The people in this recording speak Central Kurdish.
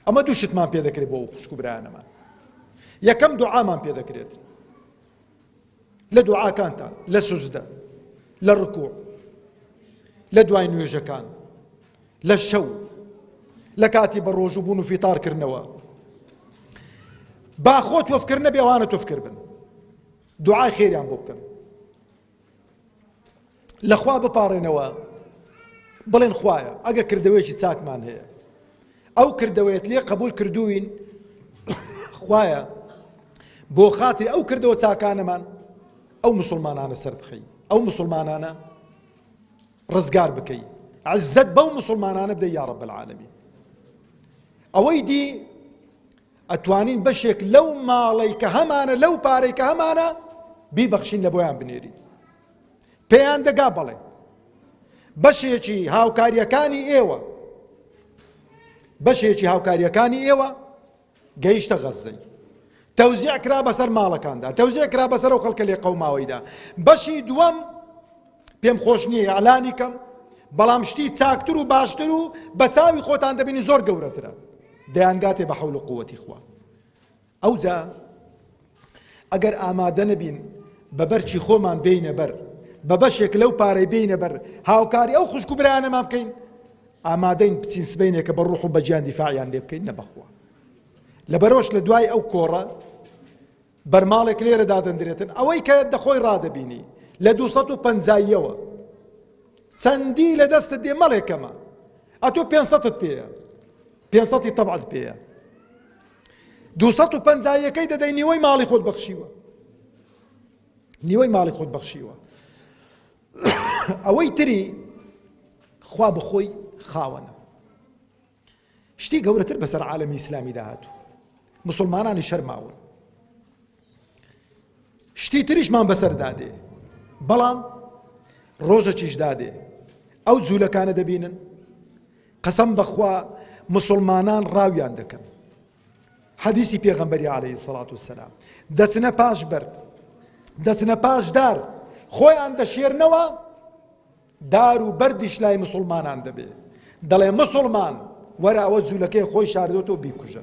ئەمە دوو شتمان پێ دەکرێت بۆ خوشک و برایانەمان یەکەم دوعامان پێ دەکرێت لە دوعاکانتان لە سوزدە لە ڕکوع لە دوای نوێژەکان لە شەو لە کاتی بە ڕۆژ و بوون و فیتارکردنەوە با خۆ تۆفکردنە بێوانە تۆفکرد بن دوعای خێریان بۆ بکەن لەخوا بپاڕێنەوە بڵێن خوایە ئەگە کردەوەیەکی چاکمان هەیە ئەو کردەوەیەت لێ قبول کردوین خوایە بۆ خاتر ئەو کردەوە چاکانەمان ئەو مسلمانانە سەر بخەی ئەو مسلمانانە ڕزگار بکەی عزت بەو مسلمانانە بدە یاڕە بەعاالمی ئەوەی دی ئەتوانین بەشێک لەو ماڵەی کە هەمانە لەو پارەی کە هەمانە بیبەخشین لە بۆیان بنێرین پێیان دەگا بەڵێ بەشێکی هاوکاریەکانی ئێوە بەشێکی هاوکاریەکانی ئێوە گەیشتە غەززەی تەوزیع کرا بەسەر ماڵەکاندا تەوزیع کرا بەسەر و خەڵکە لێ قەوماوەیدا بەشی دووەم پێم خۆش نییە ئالانی کەم بەڵام شتی چاکتر و باشتر و بە چاوی خۆتان دەبینی زۆر گەورەترە دەیانگاتێ بە حەول و قووەتی خوا ئەوجا ئەگەر ئامادە نەبین بە بەرچی خۆمان بینە بەر بە بەشێک لەو پارەی بینە بەر هاوکاری ئەو خوشک و برایانەمان بکەین ئامادەین بچین سبینێکە بە ڕوح و بەجیان دیفاعیان لێ بکەین نە بەخوا لەبەرۆش لە دوای ئەو کۆڕە بەرماڵێک لێرە دادەندرێتن ئەوەی کە دەخۆی ڕادەبینی لە دوو سەد و پەنجاییەوە چەندی لە دەستت دێ مەڵێکەمە ئەتۆ پێ سەدت پێەیە پێ سەدی تەبعت پێەیە دوو سەد و پەنجاییەکەی دەدەی نیوەی ماڵی خۆت بەخشیوە نیوەی ماڵی خۆت بەخشیوە ئەوەی تری خوا بخۆی خاوەنە شتی گەورەتر بەسەر عالەمی ئیسلامیدا هاتووە مسلمانانیش هەر ماون شتی تریشمان بەسەردا دێ بەڵام ڕۆژەکیشدا دێ ئەو جوولەکانە دەبینن قەسەم بەخوا مسلمانان ڕاویان دەکەن حەدیسی پێغەمبەری عليهەی سەڵات و سەسلام دەچنە پاش بەرد دەچنە پاشدار خۆیان دەشێرنەوە دار و بەردیش لای مسوڵمانان دەبێ دەڵێ مسوڵمان وەرە ئەوە جولەکەی خۆی شاردۆتەوە بیکوژە.